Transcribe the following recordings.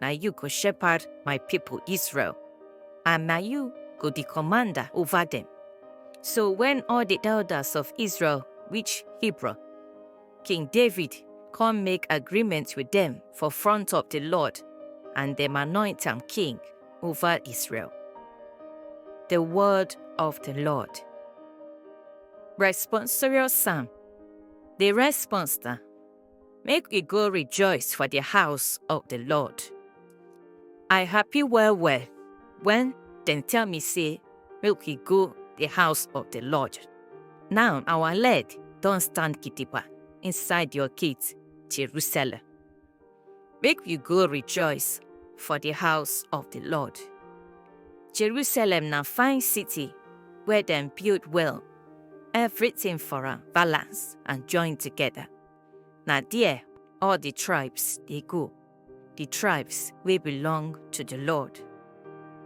na you go shepherd my people Israel, and na you go the commander over them. So when all the elders of Israel reach Hebron, King David come make agreement with them for front of the Lord, and them anoint him king over Israel. The word of the Lord. Responsorial Psalm. The response Make we go rejoice for the house of the Lord. I happy well well when dem tell me say make we go the house of the Lord. Now our leg don stand gidigba inside your gate, Jerusalem. Make we go rejoice for the house of the Lord. Jerusalem na fine city where dem build well Everything for am balance and join together. Na there all the tribes dey go, the tribes wey belong to the Lord.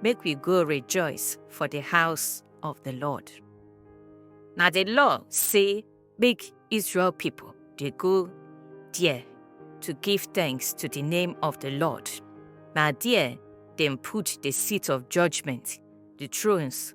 Make we go rejoice for the house of the Lord. Na the law say make Israel people dey go there to give thanks to the name of the Lord. Na there dem put the seat of judgment, the thrones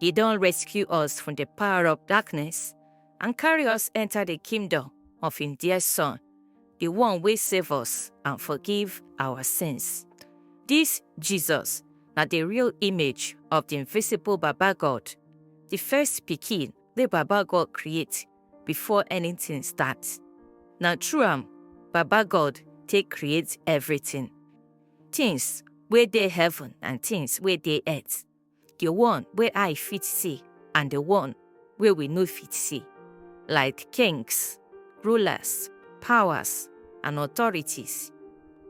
He don rescue us from the power of darkness and carry us enter the kingdom of him dear son, the one wey save us and forgive our sins. This Jesus na the real image of the invisible Baba God, the first pikin wey Baba God create before anything start. Na through am Baba God take create everything, things wey dey heaven and things wey dey earth. the one wey eye fit see and the one wey we no fit see, like kings, rulers, powers, and authorities.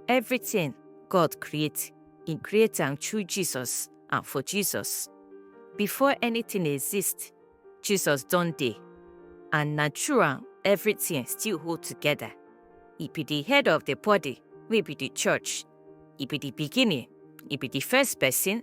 Everything God create, He create am through Jesus and for Jesus. Before anything exist, Jesus don dey, and na through am everything still hold together. He be the head of the body, wey be the church. He be the beginning, He be the first person,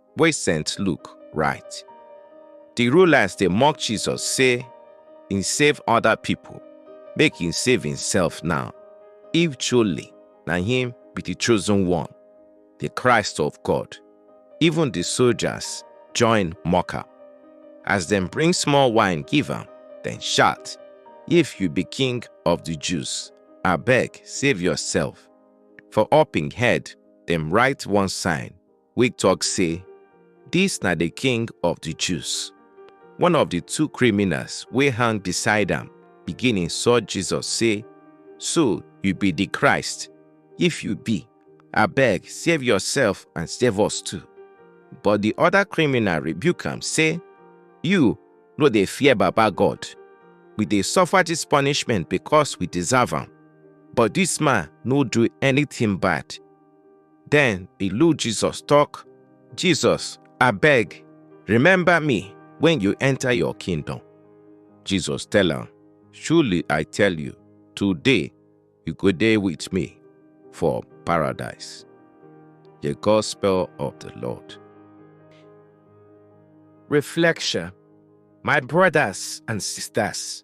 wey St. Luke write. Di rulers dey mock Jesus say he save other people, make he save himself now, if truly na him be di chosen one, di Christ of God. Even di soldiers join mock am. As dem bring small wine give am, dem shout, If you be king of di Jews, abeg save yourself. For up im head dem write one sign, wey tok say, Dis na di King of di Jews. One of di two criminals wey hang beside am begin insult Jesus say, So you be di Christ? If you be, abeg save yourself and save us too. But di oda criminal rebuke am say, You no dey fear Baba God? We dey suffer dis punishment because we deserve am, but dis man no do anytin bad. Then the Lord Jesus talk, Jesus, I beg, remember me when you enter your kingdom. Jesus tell him, Surely I tell you, today you go there with me for paradise. The Gospel of the Lord. Reflection My brothers and sisters,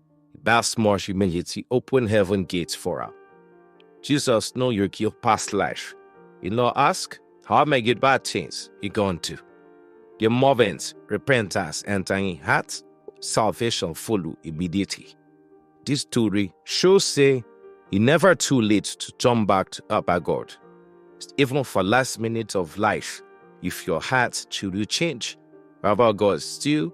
That small humility opened heaven gates for her. Jesus know your kill past life. You know, ask, how am I get bad things you gone to? Your movements, repentance, entering heart, salvation follow immediately. This story shows say it never too late to turn back to Abba God. Even for last minute of life, if your heart truly change, Abba God still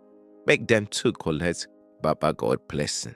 make dem too collect baba god blessing